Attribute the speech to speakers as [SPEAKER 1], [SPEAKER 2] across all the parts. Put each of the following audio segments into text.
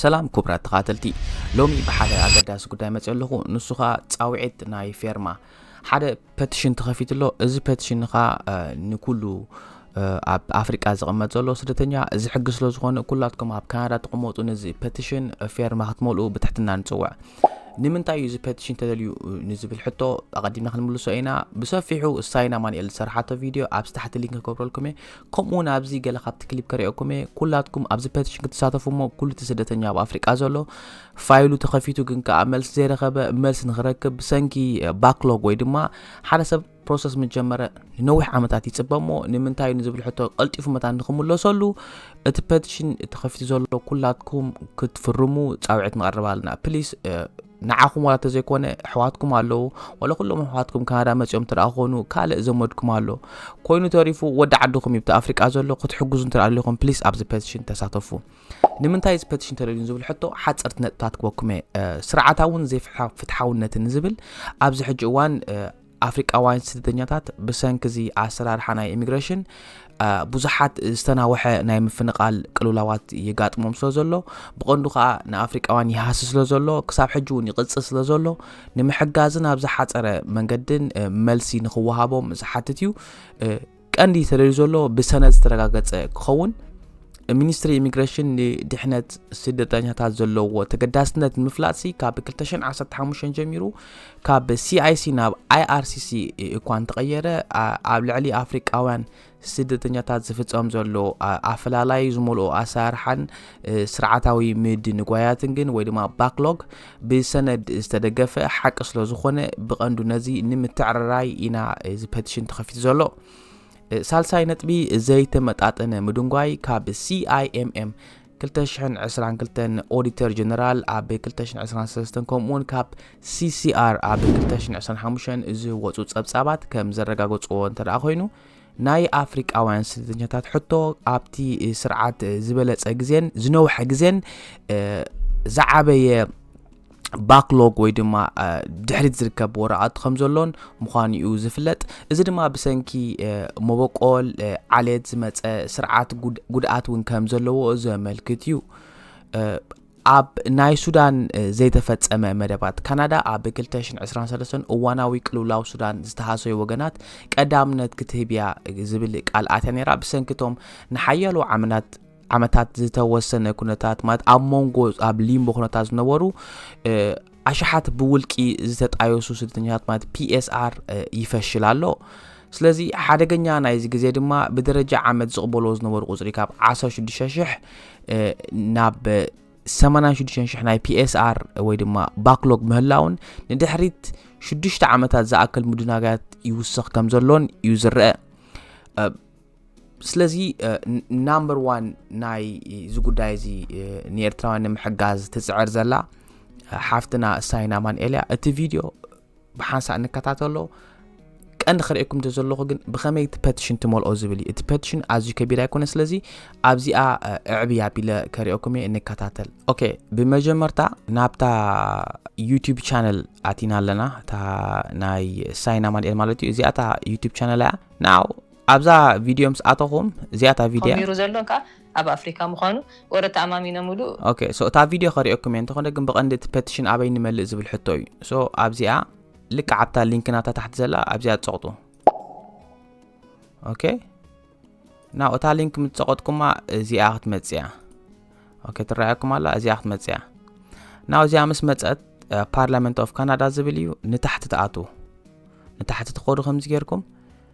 [SPEAKER 1] ሰላም ክቡራት ተኻተልቲ ሎሚ ብሓደ ኣገዳሲ ጉዳይ መፅኦ ኣለኹ ንሱ ከዓ ፃውዒት ናይ ፌርማ ሓደ ፐቲሽን ተኸፊቱ ኣሎ እዚ ፐቲሽን ከዓ ንኩሉ ኣብ ኣፍሪቃ ዝቕመጥ ዘሎ ስደተኛ እዚ ሕጊ ስለ ዝኾነ ኩላትኩም ኣብ ካናዳ ትቕመጡ ነዚ ፐቲሽን ፌርማ ክትመልኡ ብትሕትና ንፅውዕ ንምንታይ እዩ እዚ ፐቲሽን ተደልዩ ንዝብል ሕቶ ኣቐዲምና ክንምልሶ ኢና ብሰፊሑ ሳይና ማንኤል ዝሰርሓቶ ቪድዮ ኣብዚ ታሕቲ ሊንክ ክገብረልኩም እየ ከምኡ ውን ኣብዚ ገለ ካብቲ ክሊፕ ከሪኦኩም እየ ኩላትኩም ኣብዚ ፐቲሽን ክትሳተፉ እሞ ኩሉ እቲ ስደተኛ ኣብ ኣፍሪቃ ዘሎ ፋይሉ ተኸፊቱ ግን ከዓ መልሲ ዘይረኸበ መልሲ ንክረክብ ብሰንኪ ባክሎግ ወይ ድማ ሓደ ሰብ ፕሮሰስ ምጀመረ ንነዊሕ ዓመታት ይፅበ እሞ ንምንታይ እዩ ንዝብል ሕቶ ቀልጢፉ መታን ንክምለሰሉ እቲ ፐቲሽን ተኸፊቱ ዘሎ ኩላትኩም ክትፍርሙ ፃውዒት ንቐርብ ኣለና ፕሊስ ንዓኹም ዋላ ተዘይኮነ ኣሕዋትኩም ኣለዉ ዋላ ኩሎም ኣሕዋትኩም ካናዳ መፅኦም እንተ ኮኑ ካልእ ዘመድኩም ኣሎ ኮይኑ ተሪፉ ወዲ ዓድኹም ይብቲ ኣፍሪቃ ዘሎ ክትሕግዙ እንተ ኣለኹም ፕሊስ ኣብዚ ፐቲሽን ተሳተፉ ንምንታይ እዚ ፐቲሽን ተደልዩን ዝብል ሕቶ ሓፀርቲ ነጥብታት ክበኩም እየ ስርዓታውን ዘይፍትሓውነትን ዝብል ኣብዚ ሕጂ እዋን ኣፍሪቃውያን ስደተኛታት ብሰንኪ እዚ ኣሰራርሓ ናይ ኢሚግሬሽን ብዙሓት ዝተናወሐ ናይ ምፍንቓል ቅልውላዋት ይጋጥሞም ስለ ዘሎ ብቐንዱ ከዓ ንኣፍሪቃውያን ይሃሲ ስለ ዘሎ ክሳብ ሕጂ እውን ይቕፅል ስለ ዘሎ ንምሕጋዝን ኣብ ዝሓፀረ መንገድን መልሲ ንክወሃቦም ዝሓትት እዩ ቀንዲ ተለዩ ዘሎ ብሰነድ ዝተረጋገጸ ክኸውን ሚኒስትሪ ኢሚግሬሽን ንድሕነት ስደተኛታት ዘለዎ ተገዳስነት ንምፍላጥ ሲ ካብ 215 ጀሚሩ ካብ ሲኣይሲ ናብ ኣይኣርሲሲ እኳ እንተቐየረ ኣብ ልዕሊ ኣፍሪቃውያን ስደተኛታት ዝፍጸም ዘሎ ኣፈላላይ ዝመልኦ ኣሰራርሓን ስርዓታዊ ምድንጓያትን ግን ወይ ድማ ባክሎግ ብሰነድ ዝተደገፈ ሓቂ ስለ ዝኾነ ብቐንዱ ነዚ ንምትዕርራይ ኢና እዚ ፐቲሽን ተኸፊቱ ዘሎ። ሳልሳይ ነጥቢ ዘይተመጣጠነ ምድንጓይ ካብ CIMM 2022 ኦዲተር ጀነራል ኣብ 2023 ከምኡውን ካብ CCR ኣብ 2025 ዝወፁ ጸብጻባት ከም ዘረጋገፅዎ እንተደኣ ኮይኑ ናይ ኣፍሪቃውያን ስደተኛታት ሕቶ ኣብቲ ስርዓት ዝበለጸ ግዜን ዝነውሐ ግዜን ዝዓበየ ባክሎግ ወይ ድማ ድሕሪት ዝርከብ ወረቓት ከም ዘሎን ምዃኑ እዩ ዝፍለጥ እዚ ድማ ብሰንኪ መበቆል ዓሌት ዝመፀ ስርዓት ጉድኣት እውን ከም ዘለዎ ዘመልክት እዩ ኣብ ናይ ሱዳን ዘይተፈጸመ መደባት ካናዳ ኣብ 2023 እዋናዊ ቅልውላው ሱዳን ዝተሃሰዩ ወገናት ቀዳምነት ክትህብያ ዝብል ቃል ኣትያ ነይራ ብሰንኪቶም ንሓያሎ ዓመናት ዓመታት ዝተወሰነ ኩነታት ማለት ኣብ መንጎ ኣብ ሊምቦ ኩነታት ዝነበሩ ኣሽሓት ብውልቂ ዝተጣየሱ ስደተኛታት ማለት ፒኤስኣር ይፈሽል ኣሎ ስለዚ ሓደገኛ ናይዚ ግዜ ድማ ብደረጃ ዓመት ዝቕበልዎ ዝነበሩ ቁፅሪ ካብ 16000 ናብ 86,000 ናይ ፒኤስኣር ወይ ድማ ባክሎግ ምህላውን ንድሕሪት 6 ዓመታት ዝኣክል ምድናጋያት ይውስኽ ከም ዘሎን እዩ ዝረአ ስለዚ ናምበር ዋን ናይ እዚ ጉዳይ እዚ ንኤርትራውያን ንምሕጋዝ ትፅዕር ዘላ ሓፍትና እሳይን ኣማንኤል እያ እቲ ቪድዮ ብሓንሳእ ንከታተሎ ቀንዲ ክርእኩም ዘለኹ ግን ብኸመይ እቲ ፐቲሽን ትመልኦ ዝብል እዩ እቲ ፐቲሽን ኣዝዩ ከቢድ ኣይኮነ ስለዚ ኣብዚኣ እዕብ ኣቢለ ከሪኦኩም እየ እንከታተል ኦኬ ብመጀመርታ ናብታ ዩቲብ ቻነል ኣቲና ኣለና እታ ናይ ሳይና ማንኤል ማለት እዩ እዚኣ እታ ዩቲብ ቻነል እያ ናው ኣብዛ ቪድዮ ምስ ኣተኹም እዚኣታ ቪድያ ጀሚሩ ዘሎ ከዓ
[SPEAKER 2] ኣብ ኣፍሪካ ምዃኑ ወረ ተኣማሚኖምሉ ኦኬ ሶ እታ ቪድዮ
[SPEAKER 1] ከሪኦኩም እየ እንተኾነ ግን ብቐንዲ እቲ ፐቲሽን ኣበይ ንመልእ ዝብል ሕቶ እዩ ሶ ኣብዚኣ ልክዕ ኣብታ ሊንክና እታ ታሕቲ ዘላ ኣብዚኣ ትፀቕጡ ኦኬ ናው እታ ሊንክ ምትፀቐጥኩማ እዚኣ ክትመፅእ እያ ኦኬ ትረኣየኩም ኣላ እዚኣ ክትመፅእ እያ ናው እዚኣ ምስ መፀት ፓርላመንት ኦፍ ካናዳ ዝብል እዩ ንታሕቲ ትኣትዉ ንታሕቲ ትኸዱ ከምዚ ጌርኩም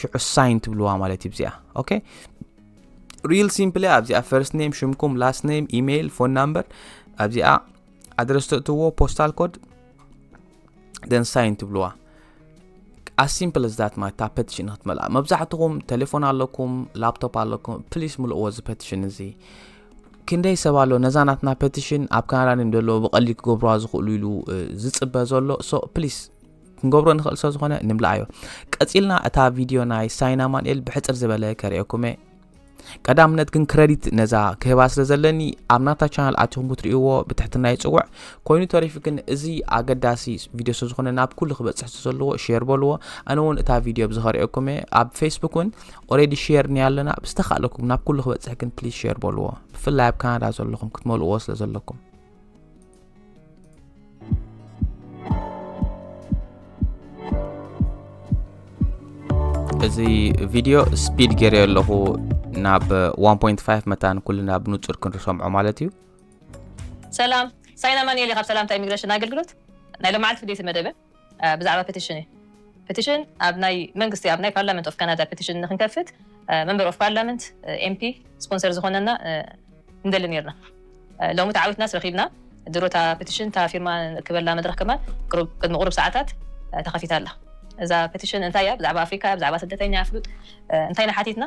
[SPEAKER 1] ሽዑ ሳይን ትብልዋ ማለት እዩ ብዚኣ ኦኬ ሪል ሲምፕሊ ኣብዚኣ ፈርስት ኔም ሽምኩም ላስት ኔም ኢሜይል ፎን ናምበር ኣብዚኣ ኣድረስ ተእትዎ ፖስታል ኮድ ደን ሳይን ትብልዋ as simple as that ማለት ፐቲሽን ክትመልኣ መብዛሕትኹም ቴሌፎን ኣለኩም ላፕቶፕ ኣለኩም ፕሊስ ምልእዎ እዚ ፐቲሽን እዚ ክንደይ ሰብ ኣሎ ነዛ ናትና ፐቲሽን ኣብ ካናዳ ዮም ዘለዎ ብቐሊል ክገብርዋ ዝኽእሉ ኢሉ ዝፅበ ዘሎ ሶ ፕሊስ ክንገብሮ ንኽእል ስለ ዝኾነ ንምልኣዮ ቀጺልና እታ ቪድዮ ናይ ሳይን ኣማንኤል ብሕጽር ዝበለ ከርእየኩመ ቀዳምነት ግን ክረዲት ነዛ ክህባ ስለ ዘለኒ ኣብ ናታ ቻናል ኣትኹም ክትርእይዎ ብትሕትና ይጽውዕ ኮይኑ ተሪፉ ግን እዚ ኣገዳሲ ቪድዮ ስለ ዝኾነ ናብ ኩሉ ክበጽሕ ዘለዎ ሼር በልዎ ኣነ እውን እታ ቪድዮ ብዝኸርእየኩም እየ ኣብ ፌስቡክ እውን ኦሬዲ ሼር ኒ ኣለና ብዝተኻእለኩም ናብ ኩሉ ክበጽሕ ግን ፕሊዝ ሼር በልዎ ብፍላይ ኣብ ካናዳ ዘለኹም ክትመልእዎ ስለ ዘለኩም እዚ ቪድዮ ስፒድ ገይረ ኣለኹ ናብ 1.5 መታን ኩልና ብንጹር ክንርሰምዖ ማለት እዩ
[SPEAKER 2] ሰላም ሳይና ማንኤል ካብ ሰላምታ ኢሚግሬሽን ኣገልግሎት ናይ ሎማዓልቲ ፍልይቲ መደበ ብዛዕባ ፐቲሽን እዩ ፐቲሽን ኣብ ናይ መንግስቲ ኣብ ናይ ፓርላመንት ኦፍ ካናዳ ፐቲሽን ንክንከፍት መንበር ኦፍ ፓርላመንት ኤምፒ ስፖንሰር ዝኾነና ንደሊ ነርና ሎሚ ተዓዊትናስ ረኪብና ድሮ እታ ፐቲሽን እታ ፊርማ ንእክበላ መድረክ ከማን ቅድሚ ቁሩብ ሰዓታት ተኸፊታ ኣላ እዛ ፐቲሽን እንታይ እያ ብዛዕባ ኣፍሪካ እያ ብዛዕባ ስደተኛ ኣፍሉጥ እንታይ ንሓቲትና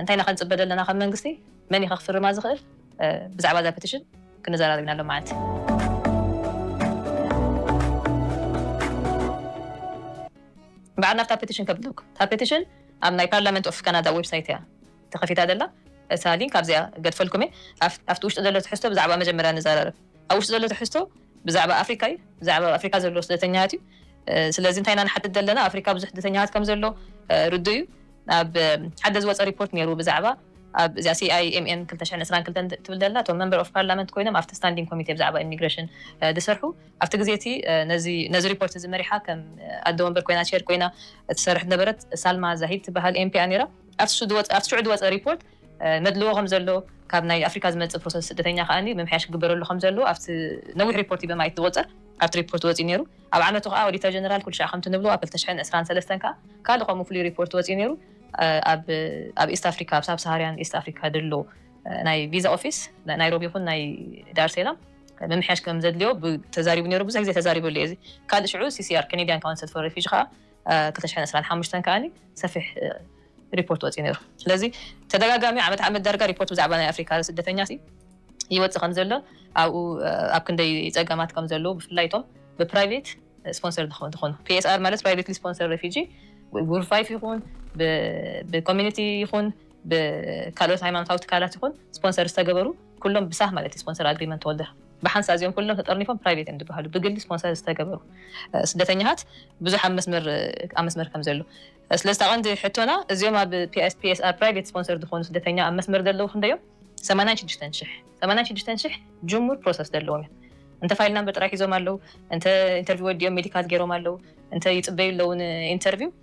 [SPEAKER 2] እንታይ ንኸንፅበ ዘለና ከም መንግስቲ መን ይኸክፍርማ ዝኽእል ብዛዕባ እዛ ፐቲሽን ክንዘራረብ ኢና ሎማዓንቲ። በዓል ናብታ ፐቲሽን ከብለኩ እታ ፐቲሽን ኣብ ናይ ፓርላመንት ኦፍ ካናዳ ዌብሳይት እያ ተኸፊታ ዘላ እታ ሊንክ ኣብዚኣ ገድፈልኩም እየ ኣብቲ ውሽጢ ዘሎ ትሕዝቶ ብዛዕባ መጀመርያ ንዘራረብ። ኣብ ውሽጢ ዘሎ ትሕዝቶ ብዛዕባ ኣፍሪካ እዩ። ብዛዕባ ኣብ ኣፍሪካ ዘሎ ስደተኛታት እዩ። ስለዚ እንታይ ኢና ንሓትት ዘለና ኣፍሪካ ብዙሕ ስደተኛታት ከም ዘሎ ርዱእ እዩ። ኣብ ሓደ ዝወፀ ሪፖርት ነይሩ ብዛዕባ ኣብ እዚኣ CIMN ክልተ ሽሕን ዕስራን ክልተን ትብል ዘላ እቶም መንበር ኦፍ ፓርላመንት ኮይኖም ኣብቲ ስታንዲንግ ኮሚቴ ብዛዕባ ኢሚግሬሽን ዝሰርሑ ኣብቲ ግዜ እቲ ነዚ ነዚ ሪፖርት እዚ መሪሓ ከም ኣደ ወንበር ኮይና ቼር ኮይና እትሰርሕ ዝነበረት ሳልማ ዛሂድ ትበሃል ኤምፒ እያ ነይራ። ኣብቲ ሽዑ ዝወፀ ሪፖርት መድልዎ ከም ዘሎ፣ ካብ ናይ ኣፍሪካ ዝመጽእ ፕሮሰስ ስደተኛ ከኣ ምምሕያሽ ክግበረሉ ከም ዘለዎ ኣብቲ ነዊሕ ሪፖርት ኢበማይት ዝቑጸር ኣብቲ ሪፖርት ወጺኡ ነይሩ። ኣብ ዓመቱ ከኣ ኦዲተር ጀነራል ኩልሻዕ ከምቲ ንብሎ ኣብ ክልተ ሽሕን ዕስራን ሰለስተን ከኣ ካልእ ከምኡ ፍሉይ ሪፖርት ወጺኡ ነይሩ። ኣብ ኣብ ኢስት ኣፍሪካ ኣብ ሳብሳሃርያን ኢስት ኣፍሪካ ደሎ ናይ ቪዛ ኦፊስ ናይ ናይሮቢ ይኹን ናይ ዳርሴላም ምምሕያሽ ከም ዘድልዮ ተዛሪቡ ነይሩ። ብዙሕ ግዜ ተዛሪበሉ እየ እዚ ካልእ ሽዑ ሲሲኣር ከኔድያን ካውንስል ፎር ሬፊጂ ከኣ ክልተ ሽሕን ዕስራን ሓሙሽተን ከኣ ሰፊሕ ሪፖርት ወጺኡ ነይሩ። ስለዚ ተደጋጋሚ ዓመት ዓመት ዳርጋ ሪፖርት ብዛዕባ ናይ ኣፍሪካ ስደተኛ ይወጽእ ከም ዘሎ ኣብኡ ኣብ ክንደይ ጸገማት ከም ዘለዉ ብፍላይ እቶም ብፕራይቬት ስፖንሰር ዝኾኑ ፒኤስኣር ማለት ፕራይቬትሊ ስፖንሰር ሬፊጂ ብጉርፋይፍ ይኹን ብኮሚኒቲ ይኹን ብካልኦት ሃይማኖታዊ ትካላት ይኹን ስፖንሰር ዝተገበሩ ኩሎም ብሳህ ማለት እዩ ስፖንሰር ኣግሪመንት ተወልደ ብሓንሳእ እዚኦም ኩሎም ተጠርኒፎም ፕራይቬት እዮም ዝበሃሉ ብግሊ ስፖንሰር ዝተገበሩ ስደተኛታት ብዙሕ ኣብ መስመር ኣብ መስመር ከም ዘሎ ስለዚ እታ ቀንዲ ሕቶና እዚኦም ኣብ PSPSR ፕራይቬት ስፖንሰር ዝኾኑ ስደተኛ ኣብ መስመር ዘለዉ ክንደይ እዮም ሰማንያን ሽዱሽተን ሽሕ ሰማንያን ሽዱሽተን ሽሕ ጅሙር ፕሮሰስ ዘለዎም እዮም እንተ ፋይል ናምበር ጥራይ ሒዞም ኣለዉ እንተ ኢንተርቪው ወዲኦም ሜዲካል ገይሮም ኣለዉ እንተ ይጽበዩ ኣለዉ ንኢንተርቪው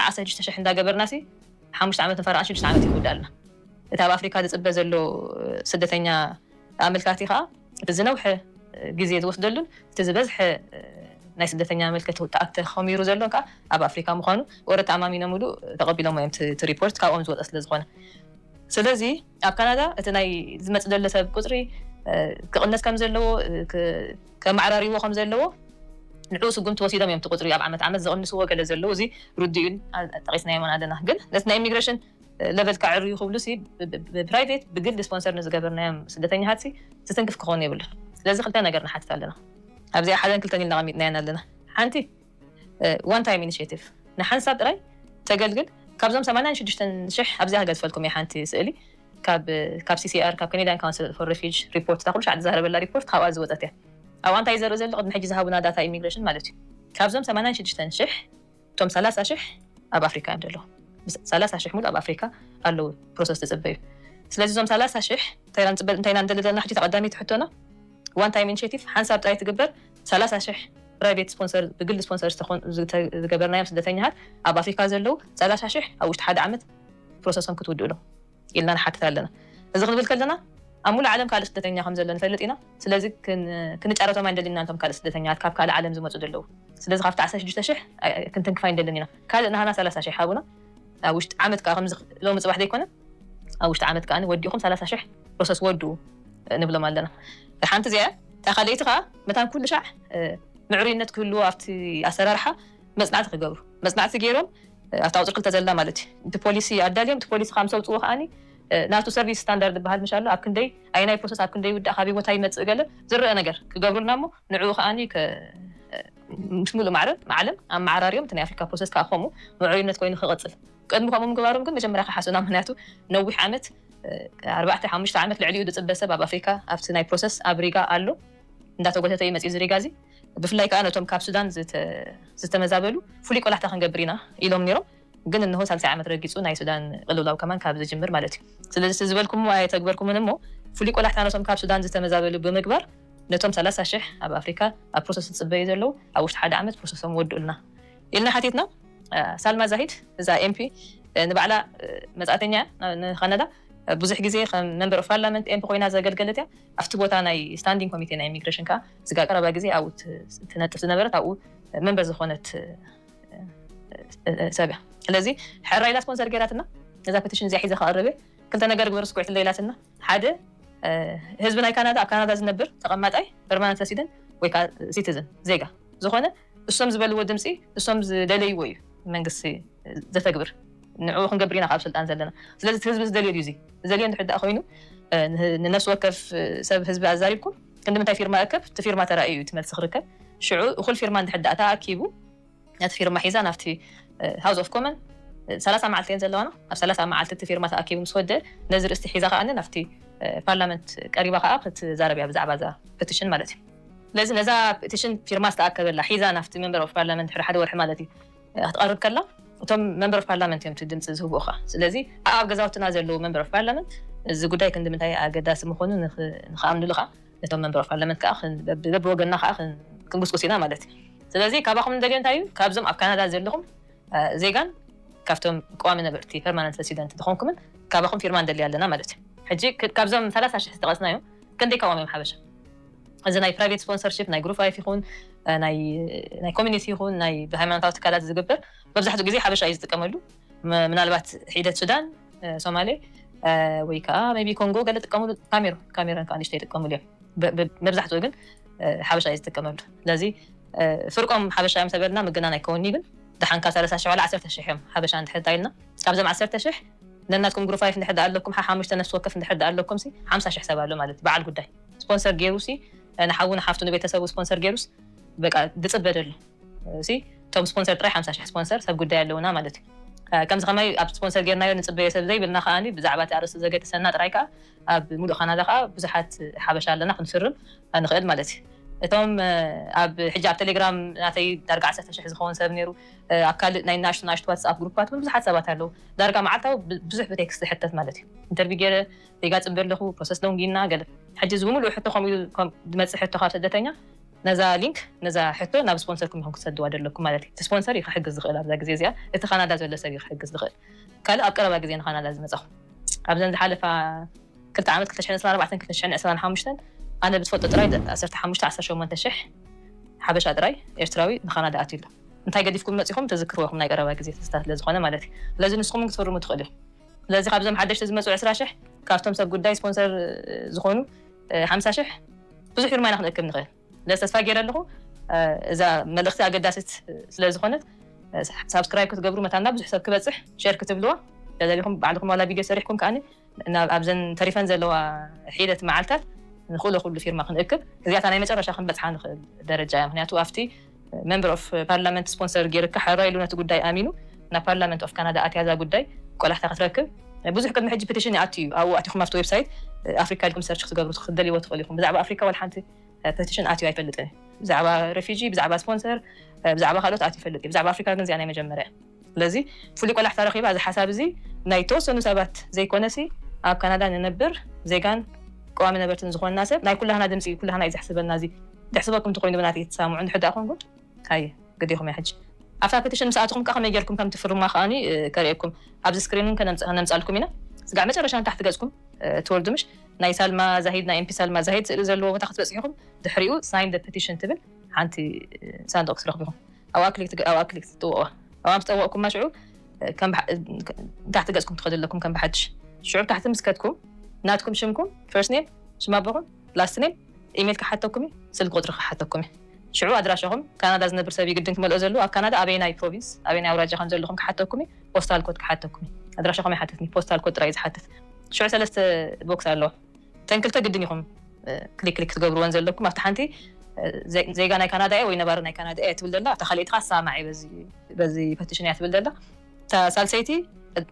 [SPEAKER 2] ዓዓ ሰዱሽተ ሽሕ እንዳ ገበርናሲ ሓሙሽተ ዓመት ንፈርዖን ሽዱሽተ ዓመት ይውዳልና እቲ ኣብ ኣፍሪካ ዝጽበ ዘሎ ስደተኛ ኣመልካቲ ከኣ እቲ ዝነውሐ ግዜ ዝወስደሉን እቲ ዝበዝሐ ናይ ስደተኛ ኣመልከቲ ተኾሚሩ ዘሎን ከኣ ኣብ ኣፍሪካ ምዃኑ ወረ ተኣማሚኖምሉ ተቐቢሎሞ እዮም እቲ ሪፖርት ካብኦም ዝወጸ ስለ ዝኾነ ስለዚ ኣብ ካናዳ እቲ ናይ ዝመጽእ ዘሎ ሰብ ቁጽሪ ክቕነስ ከም ዘለዎ ከማዕራርይዎ ከም ዘለዎ ንዕኡ ስጉምቲ ወሲዶም እዮም እቲ ቁፅሪ ኣብ ዓመት ዓመት ዝቕንስዎ ገለ ዘለዉ እዚ ርዱእ እዩ ጠቒስናዮምውን ኣለና ግን ነቲ ናይ ኢሚግሬሽን ለቨል ከዐርዩ ክብሉሲ ብፕራይቬት ብግሊ ስፖንሰር ንዝገበርናዮም ስደተኛታትሲ ዝትንክፍ ክኸውን የብሉን ስለዚ ክልተ ነገር ንሓትት ኣለና ኣብዚኣ ሓደን ክልተን ኢልና ኣቐሚጥናየን ኣለና ሓንቲ ዋን ታይም ኢኒሼቲቭ ንሓንሳብ ጥራይ ተገልግል ካብዞም ሰማንያን ሽዱሽተን ሽሕ ኣብዚኣ ክገድፈልኩም እየ ሓንቲ ስእሊ ካብ ካብ ሲሲኣር ካብ ከኔዳን ካውንስል ፎር ሬፊጅ ሪፖርት እታ ኩሉ ሻዕ ዝዛረበላ ሪፖርት ካብኣ ዝወፀት እያ ኣብኣ እንታይ ዘርኢ ዘሎ ቅድሚ ሕጂ ዝሃቡና ዳታ ኢሚግሬሽን ማለት እዩ ካብዞም ሰማንያን ሽዱሽተን ሽሕ እቶም ሰላሳ ሽሕ ኣብ ኣፍሪካ እዮም ዘለዉ ሰላሳ ሽሕ ሙሉእ ኣብ ኣፍሪካ ኣለዉ ፕሮሰስ ዝፅበዩ ስለዚ እዞም ሰላሳ ሽሕ እንታይ ኢና ንፅበ እንታይ ኢና ንደሊ ዘለና ሕጂ ተቐዳሚት ሕቶና ዋን ታይም ኢኒሽቲቭ ሓንሳብ ጥራይ ትግበር ሰላሳ ሽሕ ፕራይቬት ስፖንሰር፣ ብግሊ ስፖንሰር ዝተኾኑ፣ ዝገበርናዮም ስደተኛታት ኣብ ኣፍሪካ ዘለው ሰላሳ ሽሕ ኣብ ውሽጢ ሓደ ዓመት ፕሮሰሶም ክትውድኡ ዶ? ኢልና ንሓትት ኣለና። እዚ ክንብል ከለና ኣብ ሙሉእ ዓለም ካልእ ስደተኛ ከምዘሎ ንፈልጥ ኢና። ስለዚ ክንጫረቶም ኣይንደልይን ኢና ነቶም ካልእ ስደተኛታት ካብ ካልእ ዓለም ዝመፁ ዘለው። ስለዚ ካብቲ ዓሰርተ ሽዱሽተ ሽሕ ክንትንክፍ ኣይንደልን ኢና። ካልእ ናህና ሰላሳ ሽሕ ሃቡና ኣብ ውሽጢ ዓመት ከኣ ከምዚ ሎሚ ፅባሕ ዘይኮነ። ኣብ ውሽጢ ዓመት ከኣ ወዲእኹም ሰላሳ ሽሕ ፕሮሰስ ወድኡ ንብሎም ኣለና። እታ ሓንቲ እዚኣ እያ። እታ ካልኣይቲ ከኣ መታን ኩሉ ሻዕ ምዕሩይነት ክህልዎ ኣብቲ ኣሰራርሓ መጽናዕቲ ክገብሩ፣ መጽናዕቲ ገይሮም ኣብታ ቁጽሪ ክልተ ዘላ ማለት እዩ እቲ ፖሊሲ ኣዳልዮም እቲ ፖሊሲ ካብ ምስ ኣውጽእዎ ከኣ ናቱ ሰርቪስ ስታንዳርድ ዝበሃል ምሽ ኣሎ ኣብ ክንደይ ኣየናይ ፕሮሰስ ኣብ ክንደይ ይውዳእ ካበይ ቦታ ይመጽእ ገለ ዝረኣ ነገር ክገብሩልና እሞ ንዕኡ ከኣ ምስ ሙሉእ ማዕረ ዓለም ኣመዓራርዮም እቲ ናይ ኣፍሪካ ፕሮሰስ ከዓ ከምኡ ምዕሩይነት ኮይኑ ክቕጽል ቅድሚ ከምኡ ምግባሮም ግን መጀመርያ ክሓሱና ምክንያቱ ነዊሕ ዓመት ኣርባዕተ ሓሙሽተ ዓመት ልዕሊኡ ዝጽበ ሰብ ኣብ ኣፍሪካ ኣብቲ ናይ ፕሮሰስ ኣብ ሪጋ ኣሎ እንዳተጎተተ እዩ መጺኡ እዚ ሪጋ እዚ ብፍላይ ከኣ ነቶም ካብ ሱዳን ዝተመዛበሉ ፍሉይ ቆላሕታ ክንገብር ኢና ኢሎም ኔሮም ግን እንሆ ሳልሳይ ዓመት ረጊጹ ናይ ሱዳን ቅልውላው ከማን ካብ ዝጅምር ማለት እዩ ስለዚ እቲ ዝበልኩሞ ኣየተግበርኩምን እሞ ፍሉይ ቆላሕታ ነቶም ካብ ሱዳን ዝተመዛበሉ ብምግባር ነቶም ሰላሳ ሽሕ ኣብ ኣፍሪካ ኣብ ፕሮሰስ ዝጽበዩ ዘለዉ ኣብ ውሽጢ ሓደ ዓመት ፕሮሰሶም ወድኡልና ኢልና ሓቲትና። ሳልማ ዛሂድ እዛ ኤምፒ ንባዕላ መጻእተኛ እያ ንካናዳ ብዙሕ ግዜ ከም መንበር ኦፍ ፓርላመንት ኤምፒ ኮይና ዘገልገለት እያ ኣብቲ ቦታ ናይ ስታንዲንግ ኮሚቴ ናይ ኢሚግሬሽን ከኣ ስጋብ ቀረባ ግዜ ኣብኡ ትነጥፍ ዝነበረት ኣብኡ መንበር ዝኾነት ሰብ እያ ስለዚ ሕራይ ኢላ ስፖንሰር ገይራትና እዛ ፔቲሽን እዚኣ ሒዘ ክቐርብ እየ ክልተ ነገር ግበሩ ስኩዕት እንዶ ኢላትና ሓደ ህዝቢ ናይ ካናዳ ኣብ ካናዳ ዝነብር ተቐማጣይ ፐርማነንት ረሲደንት ወይ ከዓ ሲቲዝን ዜጋ ዝኾነ እሶም ዝበልዎ ድምጺ እሶም ዝደለይዎ እዩ መንግስቲ ዘተግብር ንዑኡ ክንገብር ኢና ካብ ስልጣን ዘለና ስለዚ እቲ ህዝቢ ዝደልዮ ድዩ እዚ ዝደልዮ እንድሕር ድኣ ኮይኑ ንነፍሲ ወከፍ ሰብ ህዝቢ ኣዛሪብኩም ክንድምንታይ ፊርማ እከብ እቲ ፊርማ ተራእዩ እዩ እቲ መልሲ ክርከብ ሽዑ እኹል ፊርማ እንድሕር ድኣ ተኣኪቡ ነቲ ፊርማ ሒዛ ናብቲ ሃውስ ኦፍ ኮመን ሰላሳ መዓልቲ እየን ዘለዋና ኣብ ሰላሳ መዓልቲ እቲ ፊርማ ተኣኪቡ ምስ ወደ ነዚ ርእስቲ ሒዛ ከኣ ናብቲ ፓርላመንት ቀሪባ ከኣ ክትዛረብ እያ ብዛዕባ እዛ ፐቲሽን ማለት እዩ ስለዚ ነዛ ፕቲሽን ፊርማ ዝተኣከበላ ሒዛ ናብቲ መምበር ኦፍ ፓርላመንት ድሕሪ ሓደ ወርሒ ማለት እዩ ክትቐርብ ከላ እቶም መምበር ኦፍ ፓርላመንት እዮም እቲ ድምፂ ዝህብኡ ከኣ ስለዚ ኣብ ገዛውትና ዘለዉ መምበር ኦፍ ፓርላመንት እዚ ጉዳይ ክንዲ ምንታይ ኣገዳሲ ምኾኑ ንክኣምንሉ ከኣ ነቶም መምበር ኦፍ ፓርላመንት ከኣ በብወገንና ከኣ ክንጉስጉስ ኢና ማለት እዩ ስለዚ ካባኹም ንደልዮ እንታይ እዩ ካብዞም ኣብ ካናዳ ዘለኹም ዜጋን ካብቶም ቀዋሚ ነበርቲ ፐርማነንት ረሲደንት ዝኾንኩምን ካባኹም ፊርማ ንደሊ ኣለና ማለት እዩ ሕጂ ካብዞም ሰላሳ ሽሕ ዝጠቐስናዮም ከንደይ ካብኦም እዮም ሓበሻ? እዚ ናይ ፕራይቬት ስፖንሰርሺፕ ናይ ግሩፕ ላይፍ ይኹን ናይ ኮሚኒቲ ይኹን ናይ ብሃይማኖታዊ ትካላት ዝግበር መብዛሕትኡ ግዜ ሓበሻ እዩ ዝጥቀመሉ። ምናልባት ሒደት ሱዳን፣ ሶማሌ ወይ ከዓ ሜይ ቢ ኮንጎ ገለ ይጥቀምሉ፣ ካሜሩን ካሜሩን ከዓ ንእሽተይ ይጥቀምሉ እዮም። መብዛሕትኡ ግን ሓበሻ እዩ ዝጥቀመሉ። ስለዚ ፍርቆም ሓበሻ እዮም ተበልና ምግናን ኣይከውንዩ ግን ደሓንካ ሰለሳ ሽሕ ዋላ ዓሰርተ ሽሕ እዮም ሓበሻ እንድሕር እንታ ኢልና ካብዞም ዓሰርተ ሽሕ ነናትኩም ግሩፕ ፋይፍ እንድሕር ደኣ ኣለኩም ሓሓሙሽተ ነፍሲ ወከፍ እንድሕር ደኣ ኣለኩም ሲ ሓምሳ ሽሕ ሰብ ኣሎ ማለት እዩ በዓል ጉዳይ ስፖንሰር ጌሩ ሲ ንሓዉ ንሓፍቱ ንቤተሰቡ ስፖንሰር ጌሩስ በቃ ድጽበ ደሎ ሲ እቶም ስፖንሰር ጥራይ ሓምሳ ሽሕ ስፖንሰር ሰብ ጉዳይ ኣለዉና ማለት እዩ ከምዚ ከማይ ኣብ ስፖንሰር ጌርናዮ ንጽበዮ ሰብ ዘይብልና ከኣ ብዛዕባ እቲ ኣርእስቲ ዘገድሰና ጥራይ ከኣ ኣብ ሙሉእ ካናዳ ከኣ ብዙሓት ሓበሻ ኣለና ክንፍርም ንኽእል ማለት እዩ። እቶም ኣብ ሕጂ ኣብ ተሌግራም ናተይ ዳርጋ ዓሰርተ ሽሕ ዝኸውን ሰብ ኔሩ ኣብ ካልእ ናይ ናኣሽቱ ናኣሽቱ ዋትስኣፕ ግሩፓት ውን ብዙሓት ሰባት ኣለዉ ዳርጋ መዓልታዊ ብዙሕ ብቴክስት ዝሕተት ማለት እዩ ኢንተርቪው ጌረ ዜጋ ጽበ ኣለኹ ፕሮሰስ ሎንግ ኢልና ገለ ሕጂ እዚ ብምሉኡ ሕቶ ከምኡ ኢሉ ዝመጽእ ሕቶ ካብ ስደተኛ ነዛ ሊንክ ነዛ ሕቶ ናብ ስፖንሰርኩም ኢኹም ክትሰድዋ ዘለኩም ማለት እዩ እቲ ስፖንሰር እዩ ክሕግዝ ዝኽእል ኣብዛ ግዜ እዚኣ እቲ ካናዳ ዘሎ ሰብ እዩ ክሕግዝ ዝኽእል። ካልእ ኣብ ቀረባ ግዜ ንካናዳ ዝመጻኹ። ኣብዘን ዝሓለፋ ክልተ ዓመት ክልተ ሽሕን ዕስራን ኣርባዕተን ክልተ ሽሕን ዕስራን ሓሙሽተን ኣነ ብዝፈልጦ ጥራይ ዓሰርተ ሓሙሽተ ዓሰርተ ሸሞንተ ሽሕ ሓበሻ ጥራይ ኤርትራዊ ንካናዳ ኣትዩ ኣሎ። እንታይ ገዲፍኩም መጺኹም ትዝክርዎ ኢኹም ናይ ቀረባ ግዜ ትዝታ ስለ ዝኾነ ማለት እዩ። ስለዚ ንስኹም ውን ክትፍርሙ ትኽእሉ ኢኹም። ስለዚ ካብዞም ሓደሽቲ ዝመጹ ዕስራ ሽሕ ካብቶም ሰብ ጉዳይ ስፖንሰር ዝኾኑ ሓምሳ ሽሕ ብዙሕ ፊርማ ኢና ክንእክብ ንኽእል። ነዚ ተስፋ ጌረ ኣለኹ እዛ መልእኽቲ ኣገዳሲት ስለ ዝኾነት ሳብስክራይብ ክትገብሩ መታን ናብ ብዙሕ ሰብ ክበጽሕ ሸር ክትብልዋ ተደሊኹም ባዕልኹም ዋላ ቪድዮ ሰሪሕኩም ከኣኒ ናብ ኣብዘን ተሪፈን ዘለዋ ሒደት መዓልታት ንኽእሎ ኩሉ ፊርማ ክንእክብ እዚኣታ ናይ መጨረሻ ክንበጽሓ ንኽእል ደረጃ እያ ምኽንያቱ ኣብቲ መምበር ኦፍ ፓርላመንት ስፖንሰር ጌርካ ሓራ ኢሉ ነቲ ጉዳይ ኣሚኑ ናብ ፓርላመንት ኦፍ ካናዳ ኣትያ እዛ ጉዳይ ቆላሕታ ክትረክብ ብዙሕ ቅድሚ ሕጂ ፕቲሽን ይኣቱ እዩ ኣብኡ ኣቲኩም ኣብቲ ዌብሳይት ኣፍሪካ ኢልኩም ሰርች ክትገብሩ ክትደልይዎ ትክእሉ ኢኩም ብዛዕባ ኣፍሪካ ዋላ ሓንቲ ፕቲሽን ኣትዩ ኣይፈልጥን እዩ ብዛዕባ ረፊጂ ብዛዕባ ስፖንሰር ብዛዕባ ካልኦት ኣትዩ ይፈልጥ እዩ ብዛዕባ ኣፍሪካ ግን እዚኣ ናይ መጀመርያ እያ። ስለዚ ፍሉይ ቆላሕታ ረኺባ እዚ ሓሳብ እዚ ናይ ተወሰኑ ሰባት ዘይኮነሲ ኣብ ካናዳ ንነብር ዜጋን ቀዋሚ ነበርትን ዝኾንና ሰብ ናይ ኩላህና ድምጺ እዩ ኩላህና እዩ ዘሕስበና እዚ ደሕስበኩም ተኾይኑ ብናተይ ትሳምዑ እንድሕር ድኣ ኮንኩም ሃየ ግድ ኢኹም እያ ሕጂ ኣብታ ፐቲሽን ምስ ኣተኹም ከኣ ከመይ ጌርኩም ከም ትፍርሙዋ ከኣኒ ከርእየኩም ኣብዚ ስክሪን ውን ከነምጻልኩም ኢና ስጋዕ መጨረሻ ንታሕቲ ገጽኩም ትወርዱ ምሽ ናይ ሳልማ ዛሂድ ናይ ኤምፒ ሳልማ ዛሂድ ስእሊ ዘለዎ ቦታ ክትበጽሑ ኢኹም ድሕሪኡ ሳይን ዘ ፐቲሽን ትብል ሓንቲ ሳንዱቕ ክትረኽቡ ኢኹም ኣብ ኣክሊክ ትግ ኣብ ኣክሊክ ትጥውቕዋ ኣብኣ ምስ ጠወቕኩማ ሽዑ ከም ብሓ ንታሕቲ ገጽኩም ትኸዱ ኣለኩም ከም ብሓድሽ ሽዑ ብታሕቲ ምስ ከድኩም ናትኩም ሽምኩም ፈርስት ኔም ሽም ኣቦኹም ላስት ኔም ኢሜል ክሓተኩም እዩ ስልኪ ቁጽሪ ክሓተኩም እዩ ሽዑ ኣድራሻኹም ካናዳ ዝነብር ሰብ እዩ ግድን ክመልኦ ዘሉ ኣብ ካናዳ ኣበየናይ ፕሮቪንስ ኣበየናይ ኣውራጃ ከም ዘለኹም ክሓተኩም እዩ ፖስታል ኮድ ክሓተኩም እዩ ኣድራሻኹም ኣይሓትትኒ ፖስታል ኮድ ጥራይ እዩ ዝሓትት ሽዑ ሰለስተ ቦክስ ኣለዋ እተን ክልተ ግድን ኢኹም ክሊክ ክሊክ ትገብርወን ዘለኩም ኣብቲ ሓንቲ ዜጋ ናይ ካናዳ እየ ወይ ነባሪ ናይ ካናዳ እየ ትብል ዘላ እታ ካልኣይቲ ከዓ ሰማዕ እየ በዚ ፐቲሽን እያ ትብል ዘላ እታ ሳልሰይቲ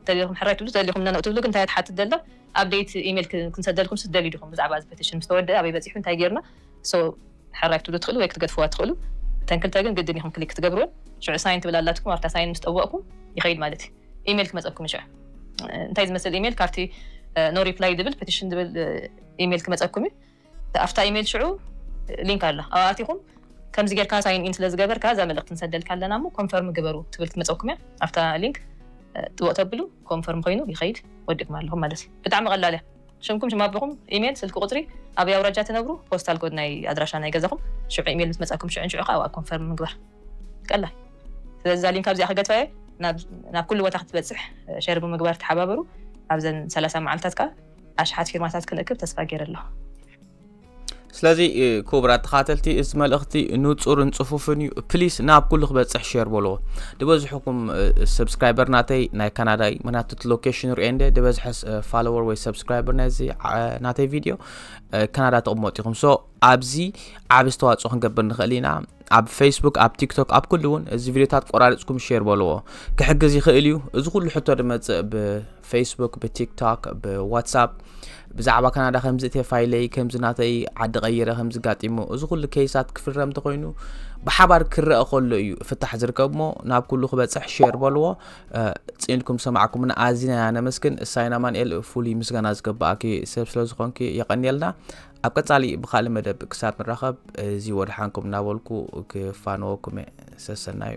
[SPEAKER 2] ደሊኹም ሕራይ ትብሉ ደሊኹም ነነኡ ትብሉ ግን እንታይ እያ ትሓትት ዘላ ኣብደይት ኢሜል ክንሰደልኩም ስ ትደልዩ ዲኹም ብዛዕባ እዚ ፐቲሽን ምስ ተወድአ ኣበይ በፂሑ እንታይ ጌርና So ሐራይ ክትብሉ ትኽእሉ ወይ ክትገድፍዋ ትኽእሉ እተን ክልተ ግን ግድን ኢኹም ክሊክ ክትገብርወን ሽዑ ሳይን ትብል ኣላትኩም ኣብታ ሳይን ምስ ጠወቕኩም ይኸይድ ማለት እዩ ኢሜል ክመጸኩም እዩ ሽዑ እንታይ ዝመስል ኢሜል ካብቲ ኖ ሪፕላይ ድብል ፔቲሽን ድብል ኢሜል ክመጸኩም እዩ ኣብታ ኢሜል ሽዑ ሊንክ ኣላ ኣብኣ ኣቲኹም ከምዚ ጌርካ ሳይን ኢን ስለ ዝገበርካ እዛ መልእኽቲ ንሰደልካ ኣለና እሞ ኮንፈርም ግበሩ ትብል ክትመፀኩም እያ ኣብታ ሊንክ ጥወቅ ተብሉ ኮንፈርም ኮይኑ ይኸይድ ወዲእኩም ኣለኹም ማለት እዩ ብጣዕሚ ቀላል እያ ሽምኩም ሽም ኣቦኹም ኢሜል ስልኪ ቁጽሪ ኣበይ ኣውራጃ ትነብሩ ፖስታል ኮድ ናይ ኣድራሻ ናይ ገዛኹም ሽዑ ኢሜል ምስ መጻኩም ሽዑ ንሽዑ ከኣ ኮንፈርም ምግባር ቀላል ስለዚ እዛ ሊንክ ኣብዚኣ ክገድፋየ ናብ ኩሉ ቦታ ክትበጽሕ ሸር ብምግባር ተሓባበሩ ኣብዘን ሰላሳ መዓልታት ከኣ ኣሽሓት ፊርማታት ክንእክብ ተስፋ ገይረ ኣለኹ።
[SPEAKER 1] ስለዚ ክቡራት ተኻተልቲ እዚ መልእኽቲ ንፁርን ፅፉፍን እዩ ፕሊስ ናብ ኩሉ ክበፅሕ ሸር በልዎ ድበዝሕኩም ሰብስክራይበር ናተይ ናይ ካናዳ እዩ ምክንያቱ እቲ ሎኬሽን ሪኦ እንደ ድበዝሐ ፋሎወር ወይ ሰብስክራይበር ናይዚ ናተይ ቪድዮ ካናዳ ተቕመጡ ኢኹም ሶ ኣብዚ ዓብ ዝተዋፅኦ ክንገብር ንኽእል ኢና ኣብ ፌስቡክ ኣብ ቲክቶክ ኣብ ኩሉ እውን እዚ ቪድዮታት ቆራሪፅኩም ሸር በልዎ ክሕግዝ ይኽእል እዩ እዚ ኩሉ ሕቶ ድመፅእ ፌስቡክ ብቲክቶክ ብዋትሳፕ ብዛዕባ ካናዳ ከምዚ እተ ፋይለይ ከምዚ ናተይ ዓዲ ቀይረ ከምዚ ጋጢሞ እዚ ኩሉ ኬሳት ክፍረም እንተኮይኑ ብሓባር ክረአ ከሎ እዩ ፍታሕ ዝርከብ ሞ ናብ ኩሉ ክበፅሕ ሼር በልዎ ፅንኩም ሰማዕኩምና ኣዝና ኢና ነመስግን እሳይና ማንኤል ፍሉይ ምስጋና ዝገባእኪ ሰብ ስለ ዝኾንኪ የቐንየልና ኣብ ቀፃሊ ብካልእ መደብ ክሳብ ንራኸብ እዚ ወድሓንኩም እናበልኩ ክፋነወኩም እየ ሰሰናዩ